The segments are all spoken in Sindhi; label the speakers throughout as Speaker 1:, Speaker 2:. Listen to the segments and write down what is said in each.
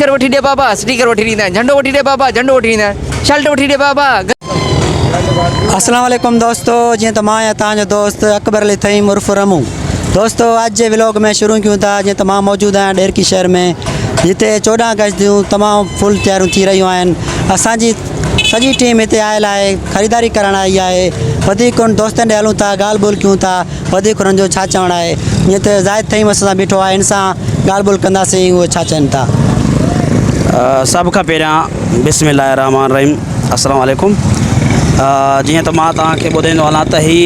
Speaker 1: اسٽيڪر وٺي ڏي بابا اسٽيڪر وٺي ڏيندائين جهنڊو وٺي ڏي بابا جهنڊو وٺي ڏيندائين شلٽ وٺي ڏي بابا.
Speaker 2: السلام عليڪم دوستو جيئن ته مان آهيان توهان جو دوست اڪبر علي ٿهيم عرف رمون دوستو اڄ جي ولوگ ۾ شروع ڪيون ٿا جيئن ته مان موجود آهيان ڏيرڪي شهر ۾ جتي چوڏهن اگسٽ جون تمام فل تياريون ٿي رهيون آهن اسان جي سڄي ٽيم هتي آيل آهي خريداري ڪرڻ آئي آهي وڌيڪ ڪونه دوستن ڏي هلون ٿا ڳالهه ٻولهه ڪيون ٿا وڌيڪ انهن جو ڇا چوڻ آهي؟ جيئن ته زاهد فهيم اسان سان بيٺو آهي، هن سان ڳالهه ٻولهه ڪنداسين اهي ڇا چون ٿا.
Speaker 3: سڀ کان پهريان بسم الله الرحمٰن الرحيم السلام عليڪم جيئن ته مان توهان کي ٻڌائيندو هلان ته هي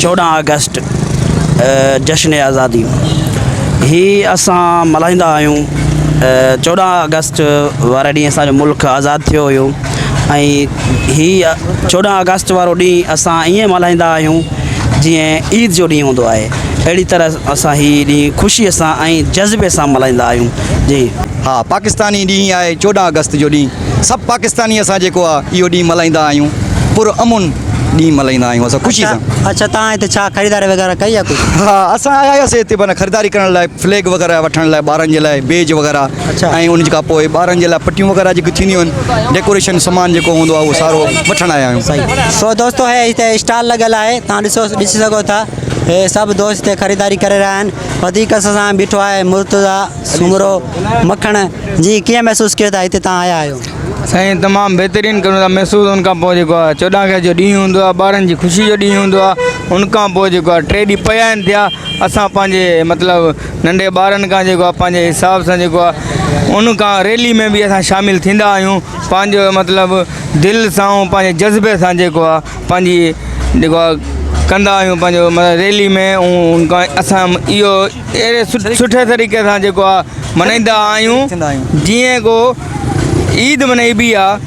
Speaker 3: چوڏهن آگسٽ جشن آزادي هي اسان ملهائيندا آهيون چوڏهن آگسٽ واري ڏينهن اسانجو ملڪ آزاد ٿيو هيو ۽ هي چوڏهن آگسٽ وارو ڏينهن اسان ائين ملهائيندا آهيون جيئن عيد جو ڏينهن هوندو آهي اهڙي طرح اسان هي ڏينهن خوشيء سان ۽ جذبي سان ملهائيندا آهيون جي ها پاڪستاني
Speaker 4: ڏينهن آهي چوڏهن آگسٽ جو ڏينهن سڀ پاڪستاني اسان جيڪو آهي اهو ڏينهن ملهائيندا آهيون پر امن ڏينهن ملهائيندا آهيون اسان خوشي سان اڇا اڇا توهان هتي ڇا
Speaker 2: خريداري وغيره ڪئي آهي ڪجهه ها اسان آيا هياسي
Speaker 4: هتي معنيٰ خريداري ڪرڻ لاء فليگ وغيره وٺڻ لاء ٻارن جي لاء بيج وغيره ۽ ان کان پوء ٻارن جي لاء پٽيون وغيره جيڪي ٿينديون آهن ڊيڪوريشن سامان جيڪو هوندو آهي اهو سارو وٺڻ آيا آهيون سو دوستو هي
Speaker 2: هتي اسٽال لڳل آهي تان ڏسو ڏسي سگهو ٿا هي سڀ دوست هتي خريداري ڪري رهيا آهن وڌيڪ اسان سان بيٺو آهي مرتضيٰ سومرو مکڻ جي ڪيئن محسوس ڪيو ٿا هتي تان آيا آهيو سائين تمام
Speaker 5: بهترين ڪريون ٿا محسوس ان کان پوء جيڪو آهي چوڏهن اگست جو ڏينهن هوندو آهي ٻارن جي خوشي جو ڏينهن هوندو آهي ان کان پوء جيڪو آهي ٽي ڏينهن پيا آهن ٿيا اسان پنهنجي مطلب ننڍي ٻارن کان جيڪو آهي پنهنجي حساب سان جيڪو آهي ان کان ريلي ۾ به اسان شامل ٿيندا آهيون پنهنجو مطلب دل سان ۽ پنهنجي جذبي سان جيڪو آهي پنهنجي جيڪو آهي ڪندا آهيون پنهنجو مطلب ريلي ۾ ان کان اسان اهو اهڙي سٺي طريقي سان جيڪو آهي ملهائيندا آهيون جيئن ڪو عيد ملهائبي آهي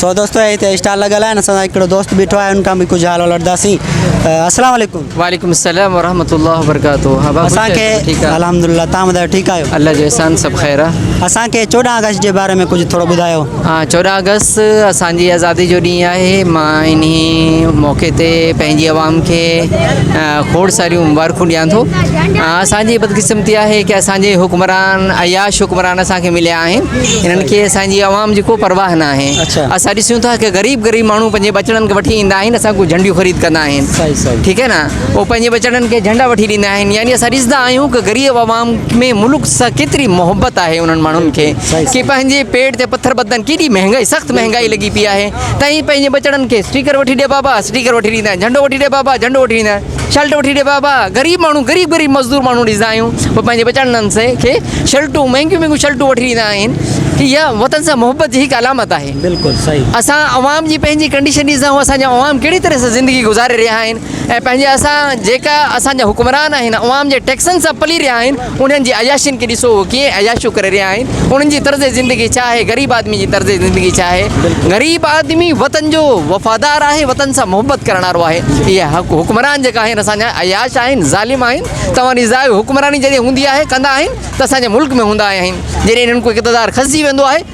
Speaker 2: سو دوستو هتي اسٽال لڳل آهن اسان سان هڪڙو دوست بيٺو آهي ان کان به ڪجهه حال وٺنداسين السلام عليڪم وعليڪم السلام ورحمۃ
Speaker 1: الله وبرڪاته ها بابو اسان کي صاحب، ٺيڪ آ.
Speaker 2: الحمدلله تان ٻڌايو ٺيڪ آهيو الله جو احسان سڀ خير
Speaker 1: آ اسان کي 14 آگسٽ
Speaker 2: جي باري ۾ ڪجهه ٿورو ٻڌايو ها چوڏهن آگسٽ
Speaker 1: اسانجي آزادي جو ڏينهن آهي مان انهي موقعي تي پنهنجي عوام کي اه، کوڙ ساريون مبارڪون ڏيان ٿو اه، اسانجي بدقسمتي آهي ڪي اسانجي حڪمران عياش حڪمران اسانکي مليا آهن انهن کي اسان جي عوام جي ڪو پرواهه نه آهي اسان ڏسون ٿا ته غريب غريب ماڻهو پنهنجي ٻچڙن کي وٺي ايندا آهن اسان کان جهنڊيون خريد ڪندا آهن ٺيڪ آهي نه هو پنهنجي ٻچڙن کي جهنڊا وٺي ڏيندا آهن يعني اسان ڏسندا آهيون ته غريب عوام ۾ ملڪ سان ڪيتري محبت آهي انهن ماڻهن کي ڪي پنهنجي پيٽ تي پٿر ٻڌندا آهن ڪيڏي مهنگائي سخت مهنگائي لڳي پئي آهي تائين پنهنجي ٻچڙن کي اسٽيڪر وٺي ڏي بابا اسٽيڪر وٺي ڏيندا آهن جهنڊو وٺي ڏي بابا جهنڊو وٺي ڏيندا آهن شلٽ وٺي ڏي بابا غريب ماڻهو غريب غريب مزدور ماڻهو ڏسندا آهيون پوء پنهنجي بچڙن سي کي شلٽون مهنگيون مهنگيون شلٽون وٺي ڏيندا آهن هي وطن سان محبت جي هڪ علامت آهي بلڪل صحيح اسان
Speaker 2: عوام جي
Speaker 1: پنهنجي ڪنڊيشن ڏسندا آهيون اسان جا عوام ڪهڙي طرح سان زندگي گذاري رهيا آهن ۽ پنهنجي اسان جيڪا اسان جا حڪمران آهن عوام جي ٽيڪسن سان پلي رهيا آهن انهن جي عياشين کي ڏسو هو ڪيئن عياشيون ڪري رهيا آهن انهن جي طرز زندگي ڇا آهي غريب آدمي جي طرز زندگي ڇا آهي غريب آدمي وطن جو وفادار آهي وطن سان محبت ڪرڻ وارو آهي اهي حڪمران جيڪا آهن اسان جا عياش آهن ظالم آهن توهان ڏسندا آهيو حڪمراني جڏهن هوندي آهي ڪندا آهن ته اسان جي ملڪ ۾ هوندا آهن جڏهن انهن کي اقتدار کسجي ويندو آهي